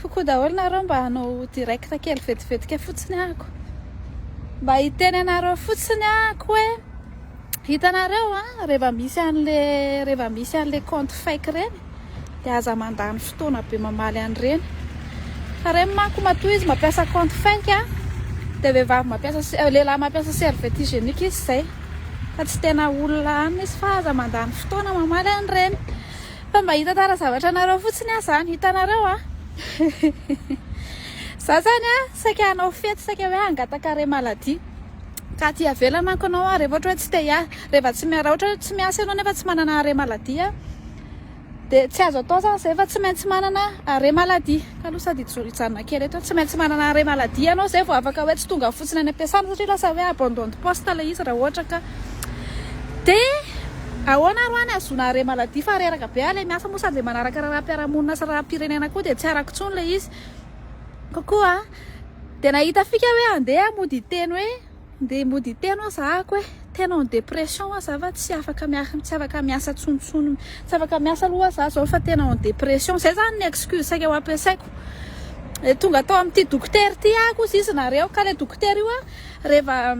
Coucou daholo nareo mba hanao direct kely vetivetika fotsiny ako mba hiteny anareo fotsiny ako hoe hitanareo a rehefa misy an'le rehefa misy an'le compte fake reny dia aza mandany fotoana be mamaly an'ireny fa reny mako matoa izy mampiasa compte fake a dia vehivavy mampiasa euh, lehilahy mampiasa serviette hygiénique izy izay fa tsy tena olona anina izy fa aza mandany fotoana mamaly an'ireny Fa mba hitantara zavatra anareo fotsiny aho zany, hitanareo a! Za zany a, saika hanao fety, saika hoe hangataka arrêt maladie, ka aty ivelany manko anao a, rehefa ohatra hoe tsy te hiasa, rehefa tsy, raha ohatra hoe tsy miasa ianao nefa tsy manana arrêt maladie a, dia tsy azo atao zany zay fa tsy maintsy manana arrêt maladie, ka aloha sady hijanona kely eto, tsy maintsy manana arrêt maladie ianao zay vao afaka hoe tsy tonga fotsiny any am-piasana, satria lasa hoe abandon de poste ilay izy raha ohatra ka. Dia ahoana ary hoa ny hahazoana arret maladie fa reraka be ary ilay miasa moa sady ilay manaraka raharaham-piarahamonina sy raharaham-pirenena koa dia tsy arako intsony ilay izy. Kokoa an! Dia nahita fika hoe andeha aho mody hiteny hoe andeha mody hiteny ho'a zahako hoe tena en dépression ho'a za fa tsy afaka miaraka tsy afaka miasa tsonontsony tsy afaka miasa aloha ho'a za zao fa tena en dépression. Izay izany ny excuse saika ho ampiasaiko. Dia tonga tao amin'ity dokotera ity aho kosa izy nareo ka ilay dokotera io an! Reva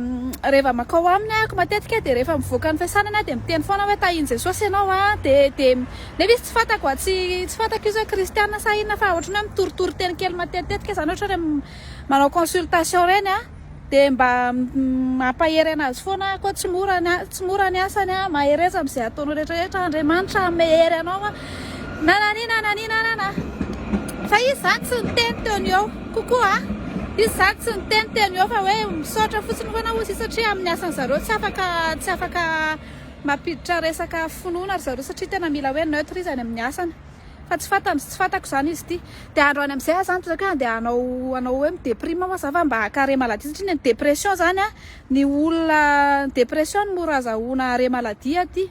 reva makao aminy ahako matetika de rehefa mivoaka ny fiasanany aho de miteny foana hoe tahin Jesosy ianao a de de nefa izy tsy fantako a tsy tsy fantako izy hoe kristiana sa inona fa otrany hoe mitoritory teny kely matetitetika zany ohatra hoe manao consultation reny a de mba mampahery anazy foana aho koa tsy mora ny a tsy mora ny asany a mahereza amzay ataonao retraretra Andriamanitra hamehery anao a Nananina nanina nana. Fa izy zany tsy niteny teo ny eo. Kokoa a. Izy zany tsy niteny teo ny eo fa hoe misaotra fotsiny foana hozy satria amin'ny asan'ny zareo tsy afaka tsy afaka mampiditra resaka finoana ry zareo satria tena mila hoe neutre izy any amin'ny asany. Fa tsy fantany tsy fantako zany izy ity. Dia andro any amin'izay aho zany toy izay ka andeha hanao hanao hoe mi-deprime ho'a za fa mba haka-arrêt maladie satria ny an'ny dépression zany a ny olona dépression no mora azahoana arrêt maladie aty.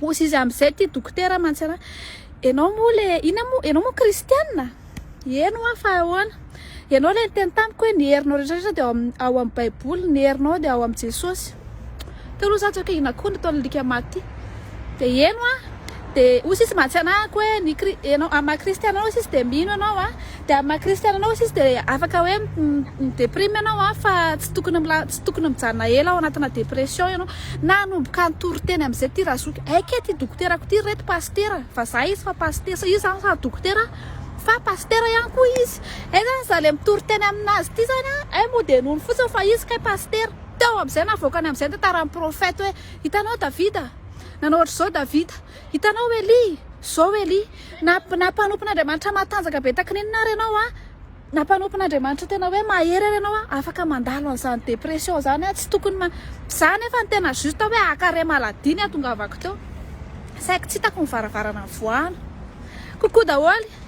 Hozy izy amin'izay ity dokotera mantsy ra. Ianao moa le inona moa ianao moa kristianina? Eny hoa fa ahoana? Ianao le niteny tamiko hoe ny herinao rehetra rehetra dia ao amin'ny ao amin'ny baiboly, ny herinao dia ao amin'i Jesosy. Teo aloha za tsy hoe inona koa ny ataon'ny lika maty ity. Dia eny hoa. Dia hozy izy mantsy anahako hoe ny kri- ianao amin'ny maha kristianina anao hozy izy dia mino ianao a. Dia maha kristiana anao sisa dia afaka hoe mi deprime ianao an, fa tsy tokony mila tsy tokony mijanona ela ao anatina depression ianao. Nanomboka nitory teny amin'izay ity Razoky, aiky ity dokoterako ity reto pasitera, vazaha izy fa pasitera, izy zany sady dokotera fa pasitera ihany koa izy, hay zany za le mitory teny aminazy ity zany an, hay moa dia nono fotsiny fa izy kay pasitera, teo amin'izay navoakany amin'izay ny tantaran'ny prophète hoe hitanao Davida, nanao ohatr'izao Davida. Hitanao Elia, zao Elia, na na mpanompon'Andriamanitra matanjaka be taky ny inona ary ianao an, na mpanompon'Andriamanitra tena hoe mahery ary ianao an, afaka mandalo an'izany dépression zany an, tsy tokony ma, za nefa ny tena juste hoe haka arrêt maladie ny hatongavako teo, saiky tsy hitako ny varavarana voahana, coucou daholo.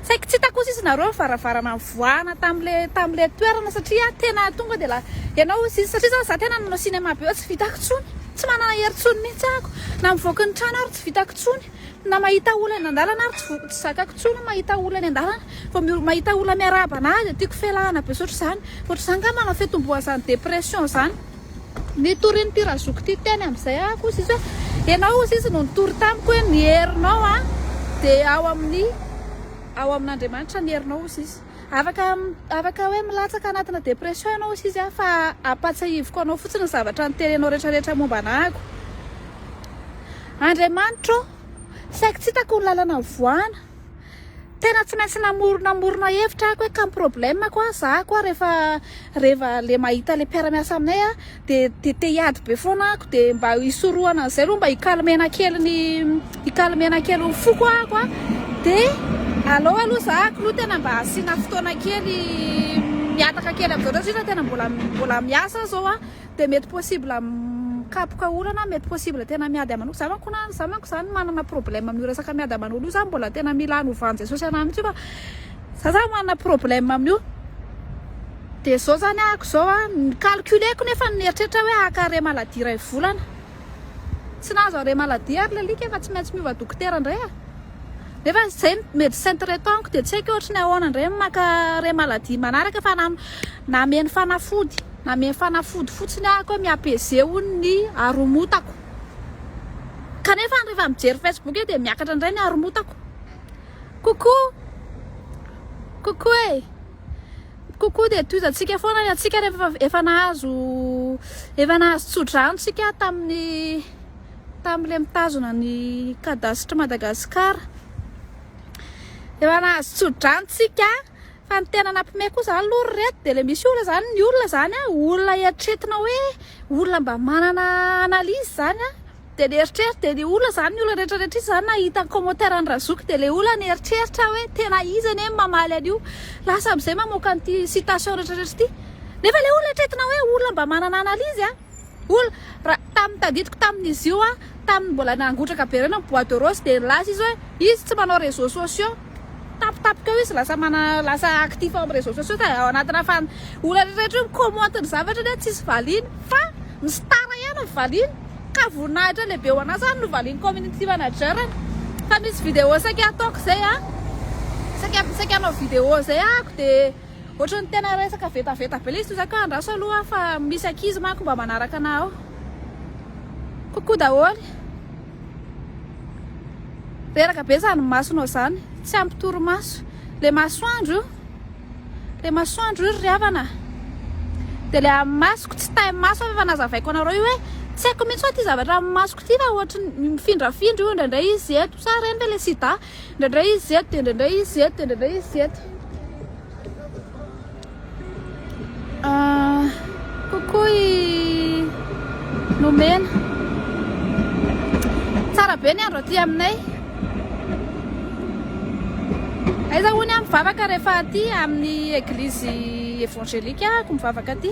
Saiky tsy hita kosa izy nareo varavarana nivoahana tamle tamle toerana satria tena tonga de la ianao izy izy satria za tena nanao cinéma be tsy vitako tsony tsy manana hery tsony mihitsy ako na mivoaka ny trano ary tsy vitako tsony na mahita olona eny andalana ary tsy tsy zakako tsony mahita olona eny andalana vao mahita olona miarahaba anahy de tiako felahana be sotro zany ohatr'izany ka manao fetombohazany depression zany Nitorin'ity razoko ity teny amin'izay aho kosa izy hoe, Ianao hozy izy no nitory tamiko hoe ny herinao dia ao amin'ny ao amin'Andriamanitra ny herinao hozy izy. Afaka afaka hoe milatsaka anatina dépression ianao hozy izy fa ampatsahiviko anao fotsiny ny zavatra niterenao retraretra momba anako. Andriamanitra ô, saiky tsy hitako ny lalana mivoana. Tena tsy maintsy namorona morona hevitra ako hoe kam problème koa za koa rehefa rehefa le mahita le mpiara-miasa aminay a de de te hiady be foana ako de mba hisorohana an'izay aloha mba hikalmena kely ny hikalmena kely ny foko ako a de allo aloha za kilo tena mba asiana fotoana kely mihataka kely am'zareo satria tena mbola mbola miasa zao a dia mety possible mikapoka olana, mety possible tena miady aman'olo, za manko na za manko zany manana problème amin'io resaka miady aman'olo io, za mbola tena mila anovan'i Jesosy anahy mitsy io fa za zany manana problème amin'io de zao zany ahiko zao a, ny calculeko nefa ny eritreritra hoe haka arret maladie iray volana, tsy nahazo arret maladie ary l'alika efa tsy maintsy miova dokotera ndray a, nefa zay ny medecin traitant-ko de tsy haiko ohatry ny ahoana ndray ny maka arret maladie manaraka fa na nameno fanafody. Nameno fanafody fotsiny aho koa mi apaiser hono ny haromotako. Kanefa rehefa mijery Facebook eo dia miakatra indray ny haromotako. Coucou! Coucou e! Coucou dia tohizantsika foana ny antsika rehefa efa nahazo efa nahazo tsodrano tsika tamin'ny tamin'ilay mitazona ny cadastre Madagascar. Efa nahazo tsodrano tsika. Fa ny tena nampime koa zany aloha ry reto dia le misy olona zany ny olona zany a olona eritretina hoe olona mba manana analyse zany a dia ny eritreritra dia ny olona zany ny olona rehetra rehetra izy zany nahita ny commentaire an'i Razoky dia le olona nieritreritra hoe tena izy anie no mamaly an'io lasa amizay mamoaka an'ity citation rehetra rehetra ity nefa le olona eritretina hoe olona mba manana analyse a Olona, raha tamin'ny tadidiko tamin'izy io an, tamin'ny mbola nangotraka be ireny ny bois de rose dia nilaza izy hoe izy tsy manao réseaux sociaux. Tampotampoka eo izy lasa mana, lasa actif ao amin'ny réseaux sociaux ka ao anatina fan, olona rehetra io mi-commente ny zavatra nefa tsisy valiany fa ny star ihany no valiany ka voninahitra lehibe ho an'azy ary novalian'ny community manager-ny fa misy vidéo saika ataoko izay an, saika, saika hanao vidéo izay ahako dia. Ohatran'ny tena resaka vetaveta be le izy toy zany ka andraso aloha fa misy ankizy manko mba manaraka anah ao. Coucou daholo. Reraka be zany masonao zany, tsy ampy torimaso. Le masoandro io. Le masoandro io ry havana. De le amin'ny masoko tsy tay maso aho fa nazavaiko anareo io hoe tsy haiko mihitsy hoe ty zavatra amin'ny masoko ty fa ohatry mifindrafindra io indraindray izy eto sa reny ve le sida. Indraindray izy eto, dia indraindray izy eto, dia indraindray izy eto. Ah, coucou i Lomena. Tsara be ny andro aty aminay. Aiza hono aho mivavaka rehefa aty amin'ny eglizy évangélique ako mivavaka aty.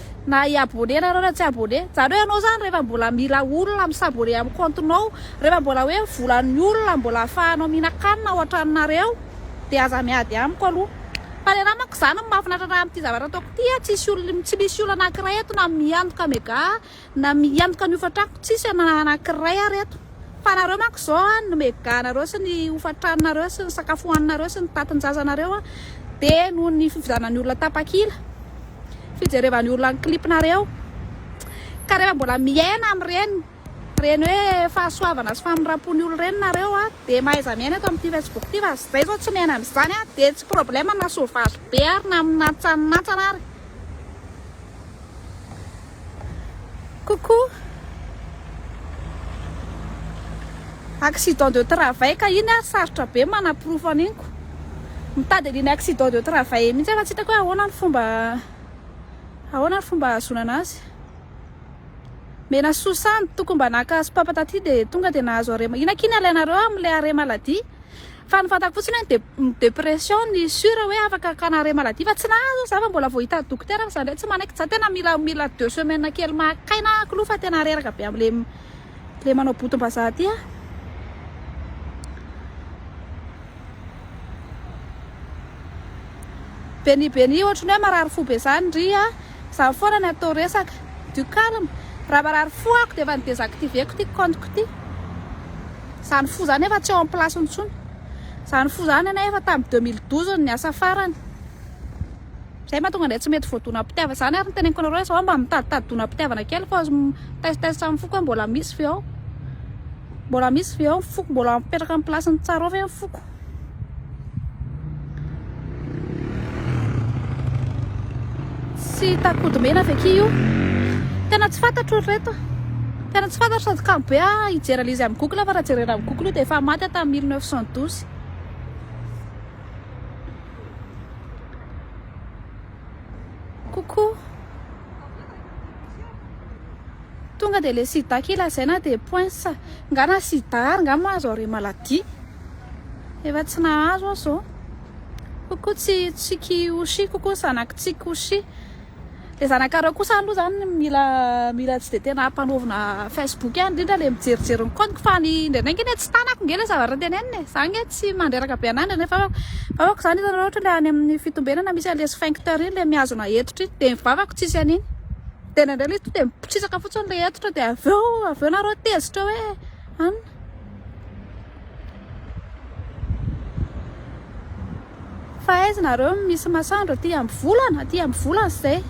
Na hi abonner nareo na tsy abonner Zareo ianao zany rehefa mbola mila olona mi s'abonner am compte nao rehefa mbola hoe volan'ny olona mbola afahanao mihinan-kanina ao an-tranonareo dia aza miady amiko aloha fa ny anahy manko zany no mahafinaritra raha amin'ity zavatra ataoko ity a tsisy olona tsy misy olona anakiray eto na miantoka mega na miantoka ny hofantrako tsisy na anakiray ary eto Fa nareo manko izao an, ny meganareo sy ny hofan-tranonareo sy ny sakafo hohaninareo sy ny tantin-jazanareo an, dia noho ny fifidianan'ny olona tapakila, fijerevan'ny olona ny clipnareo, ka rehefa mbola miaina amin'ireny, ireny hoe fahasoavana sy famindram-pon'ny olona ireny nareo an, dia mahaiza miaina eto amin'ity facebook ity, fa izay izao tsy miaina amin'izany an, dia tsy problème na sauvage be ary na minantsaninantsana ary. Coucou. Accident de travail ka iny ary sarotra be manaporofo an'iny ko. Mitady an'iny accident de travail iny mihitsy fa tsy hitako hoe ahoana ny fomba ahoana ny fomba ahazoana anazy. Menasoa samy tokony mba naka sopapa taty dia tonga dia nahazo arrêt ma-, ina akia ny alainareo amin'ilay arrêt maladie? Fa ny fantako fotsiny hoe ny ny depression ny sure hoe afaka hakana arrêt maladie fa tsy nahazo za fa mbola vao hitan'ny dokotera fa za ndray tsy manaiky za tena mila mila deux semaines kely maka aina aho k'lou fa tena reraka be amle le manao botom-bazaha ty aho. Beni beni ohatry ny hoe marary fo be zany ndry a. Zany foana ny atao resaka. Du calme. Raha marary fo ako dia efa ny desactiver-ko ity compte-ko ity. Zany fo zany efa tsy ao am place-ny intsony. Zany fo zany anie efa tam 2012 no niasa farany. Zay mahatonga anay tsy mety voadonam-pitiavana. Zany ary no teneniko anareo hoe zao mba mitaditady donam-pitiavana kely fa mitest-test am foko hoe mbola misy ve ao. Mbola misy ve ao ny foko. Mbola mipetraka am place-ny tsara ao ve ny foko. Tsy hita kodomena avy aky io. Tena tsy fantatro ry reto. Tena tsy fantatro sady kamo be ah, hijery an'izy amin'ny Google fa raha jerena amin'ny Google io dia efa maty aho tamin'ny 1912. Coucou. Tonga dia le sida aky lazaina dia poinsa. Nga na sida ary nga moa azo aré maladie. Efa tsy nahazo aho zao. Ko ko tsy tsiky oshi ko ko zanaky tsiky oshi. Le zanakareo kosa aloha zany mila mila tsy de tena mpanaovina facebook any indrindra le mijerijery ny compte fa ny indraindray nge le tsy tanako nge le zavatra tenenina e. Za nge tsy mandreraka be anah indraindray fa vavako zany hitanareo ohatra le any amin'ny fitombenana misy an'le sphincter iny le mihazona hetotra iny de ny vavako tsisy an'iny. De indraindray le to de mipositrisaka fotsiny le hetotra de aveo aveo nareo tezitra hoe an. Fa aiza nareo no misy masoandro aty amby volana aty amby volana zay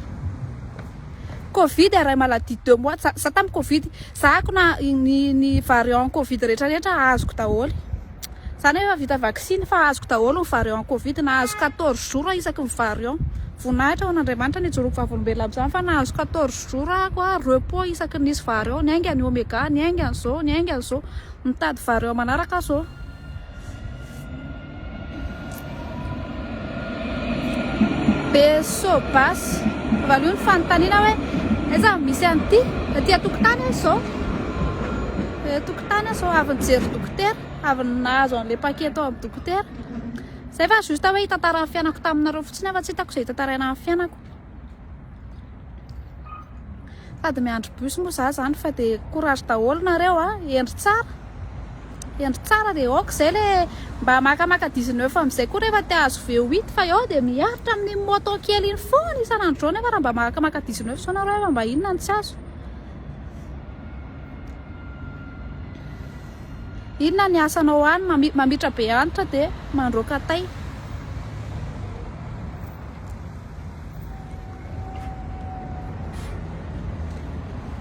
covid iray maladie deux mois za tam covid za ako na ny ny variant covid rehetra rehetra azoko daholo za nefa vita vaksiny fa azoko daholo ny variant covid na azoko quatorze jours isaky ny variant Voninahitra ho an'Andriamanitra ny hijoroako vavolombelona amin'izany fa nahazo quatorze jours ahako a repos isaky ny nisy vary ao, ny ainga ny omega, ny ainga ny zo, ny ainga ny zo. Mitady vary eo manaraka aho zao. Beso bas. Valio ny fanontaniana hoe aiza misy an'ity? Aty an-tokotany aho izao. Aty an-tokotany aho izao avy nijery dokotera, avy nahazo an'ilay paquet tao amin'ny dokotera. Zay fa juste hoe hitantara ny fiainako taminareo fotsiny fa tsy hitako izay hitantaraina amin'ny fiainako. Sady miandry bus moa za zany fa de courage daholo nareo a, hendry tsara. Hendry tsara de ok zay le mba makamaka 19 amizay koa rehefa te ahazo V8 fa eo de miaritra amin'ny moto kely iny foana isan'andro zao nefa raha mba makamaka 19 zao nareo fa mba inona no tsy azo. Inona ny asanao any? Mami mamitra be antitra de mandroaka tay.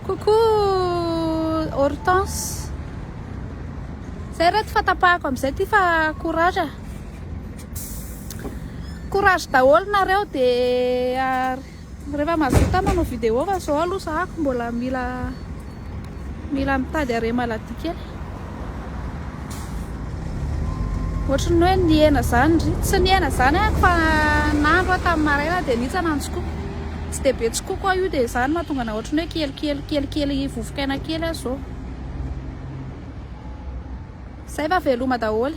Coucou Hortense. Zay reto fa tapahako amizay ty fa courage. Courage daholo nareo de Rehefa mahavita manao vidéo fa zao aloha zahako mbola mila mila mitady arrêt maladie kely. Ohatry ny hoe nihena zany ry. Tsy nihena zany aho fa nandro aho tamin'ny maraina dia nitsana ny tsikoiko. Tsy dia be tsikoiko aho io dia zany mahatonga na ohatry ny hoe kely kely kely kely vovokaina kely aho zao. Zay fa veloma daholo.